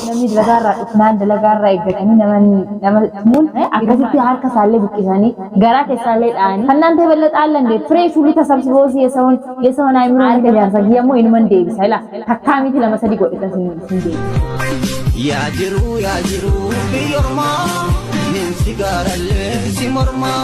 namni dalagaarraa dhufnaan dalagaarraa eeggatanii namni nama tumun akkasitti harka isaallee buqqisanii garaa keessaallee dha'anii kannaan ta'e bal'ata allan deebi firee shuulii tasabsiboo si yesawoon yesawoon aayimroo harka jaarsa kiyya immoo inuman deebisa ila takkaa miti lama sadii godhe kan sin deebi. Yaa jiru yaa jiru biyyoormaa nin sigaarallee si mormaa.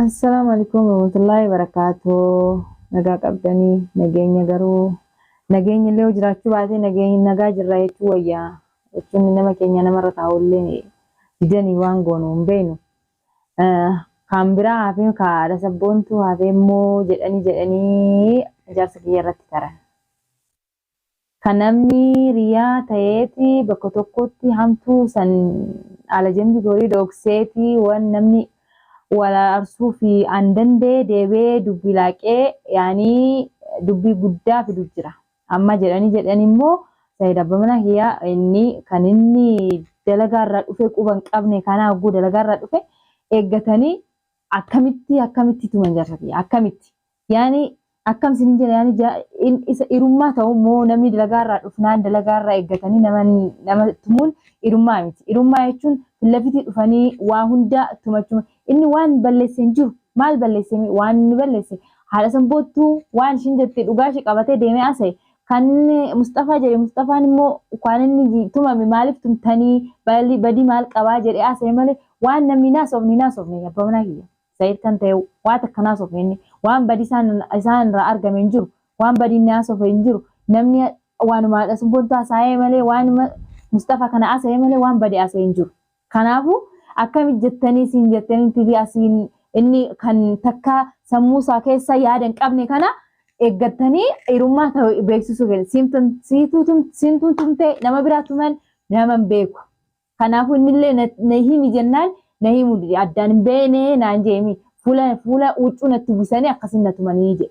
Assalaamu alaikum warahmatullahi wabarakatuh. Nagaa qabdanii nageenya garuu nageenya illee yoo jiraachuu baatee nageenya nagaa jirra jechuu wayyaa jechuun nama keenya namarra taa'u illee didanii waan goonu hin beeknu. Eh, Kan biraa hafee ka haadha sabboontuu hafee immoo jedhanii jedhanii ijaarsa kiyya irratti taran. Ka namni riyaa tayeeti bakka tokkotti hamtuu san alajambi gorii dhookseeti wan namni wal ararsuufi an dandee deebi'ee dubbi laaqee yaani dubbi guddaa fidu jira amma jedhani jedhani immo said abba mana kiya inni kan inni dalagaa irraa dhufee quba hin qabne kana hogguu dalagaa irraa dhufe eeggatani akkamitti akkamitti tuman jarsa kiya akkamitti Yaani akkam isin hin jedha yaani ja, in, isa irummaa ta'u immoo namni dalagaa irraa dhufnaan dalagaa irraa eeggatanii nama, nama tumuun irummaa miti. Irummaa jechuun fillafitii dhufanii waa hundaa tumachuma. Inni waan balleesse hin jiru. Maal balleesse mee? Waan inni balleesse haadha san boottuu waan ishiin jette dhugaa ishii qabatee deemee asa'e. Kan Musxafaa jedhe Musxafaan immoo waan inni tumame maaliif tumtanii badii maal qabaa jedhee asa'e malee waan namni hin haasofne hin haasofne abbaa manaa kiyya. Said kan ta'e waa takka hin haasofne inni waan badii isaan isaan irraa argame hin jiru waan badii inni haasofe hin jiru namni waanuma haadha subbontu haasa'ee malee waanuma Mustafa kana haasa'ee malee waan badii haasa'ee hin jiru kanaafu akkami jettanii siin jettanii tibii asiin inni kan takka sammuu isaa keessa yaada hin qabne kana eeggattanii dhiirummaa ta'u beeksisuu fedhe siintuun tumtee nama biraa tuman nama hin beeku. Kanaafuu innillee na, na himi jennaan na himuu dide. Addaan hin beeyne naan jeemi. Fuula, fuula huccuu natti uwwisanii akkasiin na tumanii jedhe.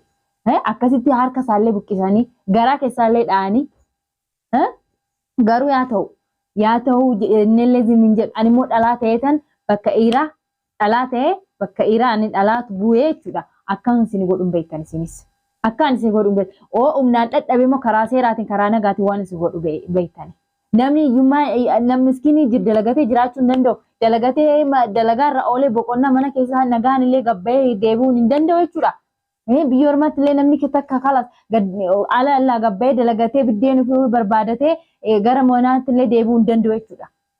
Eh, Akkasitti harka isaallee buqqisanii, garaa keessaallee dha'anii. Eh, Garuu yaa ta'u, yaa ta'u je- innillee zim hin jedhu. Ani immoo dhalaa ta'eetan bakka dhiiraa dhalaa ta'ee bakka iraa ani dhalaatu bu'ee jechuudha akkan isin godhu hin beektan isinis akkaan isin godhu hin beektan oo humnaan dhadhabe immoo karaa seeraatiin karaa nagaatiin waan isin godhu beektan namni hiyyummaa namni miskiinii jir dalagatee jiraachuu hin danda'u dalagatee dalagaa irra oolee boqonnaa mana keessaa nagaan illee gabba'ee deebi'uun hin danda'u jechuudha. Biyya ormaatti illee namni takka kalas ala allaa gabba'ee dalagatee biddeen ofii barbaadatee gara manaatti illee deebi'uu hin danda'u jechuudha.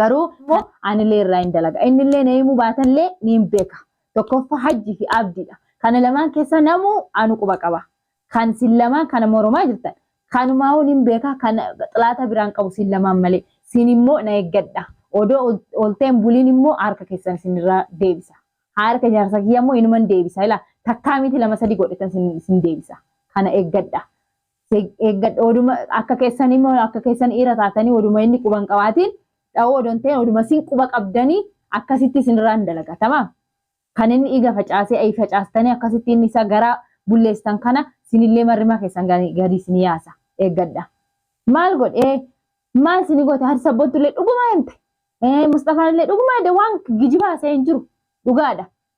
Garuu immoo anilee irraa hin dalaga. Innillee na himuu baatallee ni hin beeka. Tokkoffaa hajji fi abdiidha. Kana lamaan keessa namuu anu quba qaba. Kan sin lamaan kana moromaa jirtan. Kanumaahuu nin beeka kan xilaata biraan qabu sin lamaan malee. Sin immoo na eeggadha. Odoo olteen buliin immoo harka keessan sin irraa deebisa. Harka jaarsa kiyya immoo inuman deebisa. Ilaa takkaa miti lama sadi godhetan sin deebisa. Kana eeggadha. eeggadha oduma akka keessan immoo akka keessan dhiira taatanii oduma inni quban qabaatiin dha'uu odoon ta'e oduma isin quba qabdanii akkasitti isinirraan dalagatama. Kan inni dhiiga facaasee ayi facaastanii akkasitti inni isa gara bulleessan kana sinillee marrima keessan gadi isin yaasa eeggadha. Maal godhee maal isin goote harsa sabbontullee dhuguma himte. Musxafaan illee dhuguma waan gijibaa isa hin jiru dhugaadha.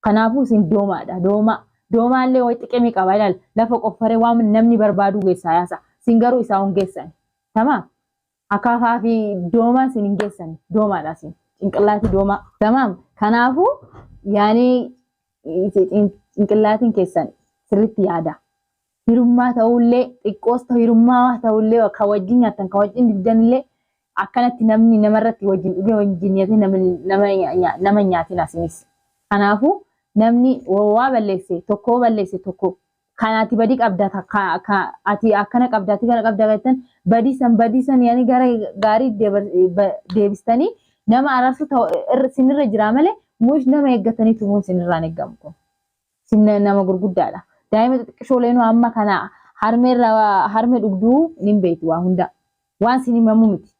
Kanaafuu isin doomaadha, doomaa. Doomaallee way xiqimi qaba, ilaal, lafa qoffaree waan namni barbaaduu geessaa yaasa. Isin garuu isaa hun geessani. Tamaam? Akaafaa fi doomaa isin hin geessani. Doomaadha isin. Cinqillaatii doomaa. Tamaam? Kanaafuu yaanii cinqillaatiin keessan sirriitti yaada. hirummaa ta'ullee xiqqoos ta'u hirummaa ta'ullee kan wajjin nyaattan kan wajjin dhugdanillee akkanatti namni namarratti wajjin dhugee wajjin nyaatee nama nama nya- nama hin nyaatin asinis. Kanaafuu namni wa- waa balleesse tokko yoo balleesse tokko kan ati badii qabda ta- ka- ka- ati akkana qabda ati kana qabda jettan badii san badii san yaani gara gaarii deebar- ba- deebistanii nama araarsuu ta'u irra- sinirra jira malee mush nama eeggatanii tumuun sinirraan eegamu kun. Isin nama gurguddaadha. Daa'ima xixiqqishooleenuu amma kana harmeerra harme dhugduu nin beektu waa hundaa. Waan isin himamu miti.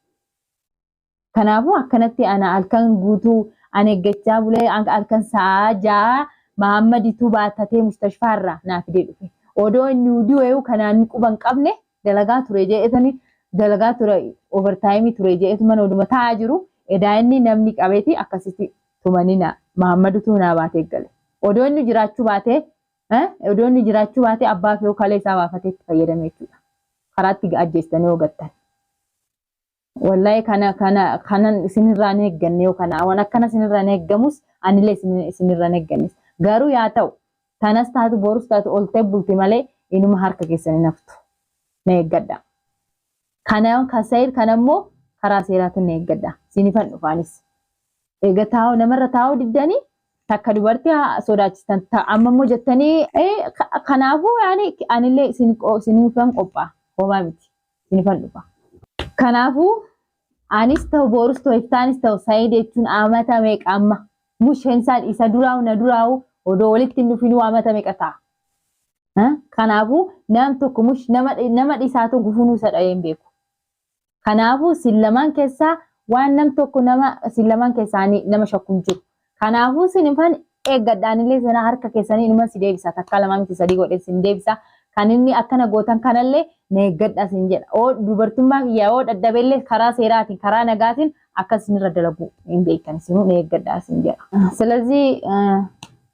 Kanaafuu akkanatti ana halkan guutuu an eeggachaa bulee halkan sa'a ja'a Mahaammaditu baattatee mustashfaarra naa fidee dhufe. Odoo inni du'eeyu kanaan quba hin qabne dalagaa ture je'eetani dalagaa ture overtime ture je'eetu mana oduma taa'aa jiru edaa inni namni qabeeti akkasitti tumaninaa mahammadu tuu naa baatee gale odoo inni jiraachuu baatee eh odoo inni jiraachuu baatee abbaa fi hookalee isaa baafatee itti fayyadame jechuudha karaatti ajjeestanii yoo gattan wallahi kana kana kanan isinirraa hin eegganne yoo kana waan akkana isinirraa hin eeggamus anilee isin- isinirraa hin eeggannes garuu yaa ta'u tanas taatu borus taatu oltee bulti malee inuma harka keessan hin haftu na eeggadha Kana ka sayid kana immoo karaa seeraatiin na eeggadha. Siinifan dhufaanis. Eega taa'u namarra taa'uu diddanii takka dubartii haa sodaachistan ta- amma immoo jettanii eh, ka- kanaafuu yaani anillee isin qo- isinifan qophaa homaa miti isinifan dhufa. Kanaafuu anis ta'u boorus ta'u iftaanis ta'u sayid jechuun amata meeqa amma musheen isaa isa duraa'u na duraa'u odoo walitti hin dhufinuu amata meeqa ta'a. Kanaafuu nam tokko mush nama dhisaatu gufunuu isa dha'ee hin beeku. Kanaafuu sin lamaan keessaa waan nam tokko nama sin lamaan keessaanii nama shakku hin jiru. Kanaafuu sin ifan eeggadhaanillee sana harka keessanii inuma si deebisa takkaa lamaa miti sadii godhee sin deebisa. Kan inni akkana gootan kanallee na eeggadha sin jedha. Oo dubartummaa kiyyaa oo dhadhabeellee karaa seeraatiin karaa nagaatiin akka sinirra dalagu hin beekan sinuu na eeggadha sin jedha. Silazii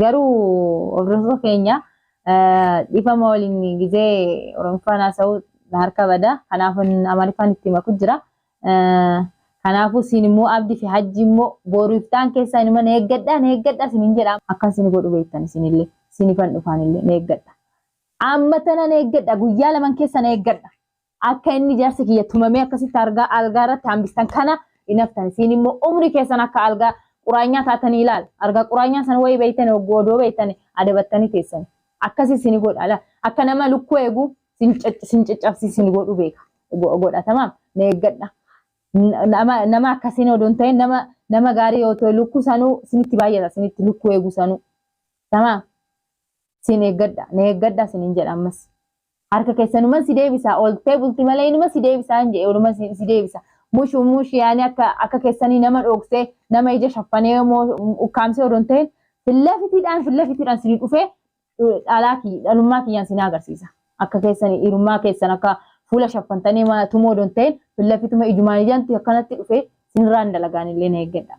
Garuu hordoftoota keenya dhifama waliin gizee Oromiffaan haasa'uu na harka bada. Kanaafin Amariffaan itti maku jira. Kanaafuu siin immoo abdi fi hajji immoo booru iftaan keessaa inuma na eeggadha na eeggadha sinin jedha. Akkan sin godhu beektan isinillee sinifan dhufaanillee na eeggadha. Amma tana na eeggadha guyyaa laman keessa na eeggadha. Akka inni jarsi kiyya tumamee akkasitti argaa algaa irratti hambistan kana hin haftan. Isiin immoo umrii keessan akka algaa quraanyaa taatanii ilaal. Argaa quraanyaa san wayii beeytani hogguu odoo beeytani adabattanii teessani. Akkasii isin godha ala. Akka nama lukkuu eegu sin caccabsi isin godhu beeka. Godha tamaam na eeggadha. Nama nama akkasiin odoo hin ta'in nama nama gaarii yoo ta'e lukkuu sanuu sinitti baay'ata sinitti lukkuu eegu sanuu. Tamaam sin eeggadha na eeggadha sinin jedha ammas. Harka kessa numan si deebisa oltee bulti malee inuma si deebisa hin jedhe oluma si si deebisa. Mushu mushi yaani akka akka kessanii nama dhooksee nama ija shaffanee moo ukkaamsee odon ta'in filla fitiidhaan filla fitiidhaan sini dhufee dhalaa kiyya dhalummaa kiyyaan sin agarsiisa. Akka keessanii dhiirummaa keessan akka fuula shaffantanii ma tumoo odon ta'in filla fituma ijumaan ijanti akkanatti dhufee sinirraan dalagaan illee na eeggadha.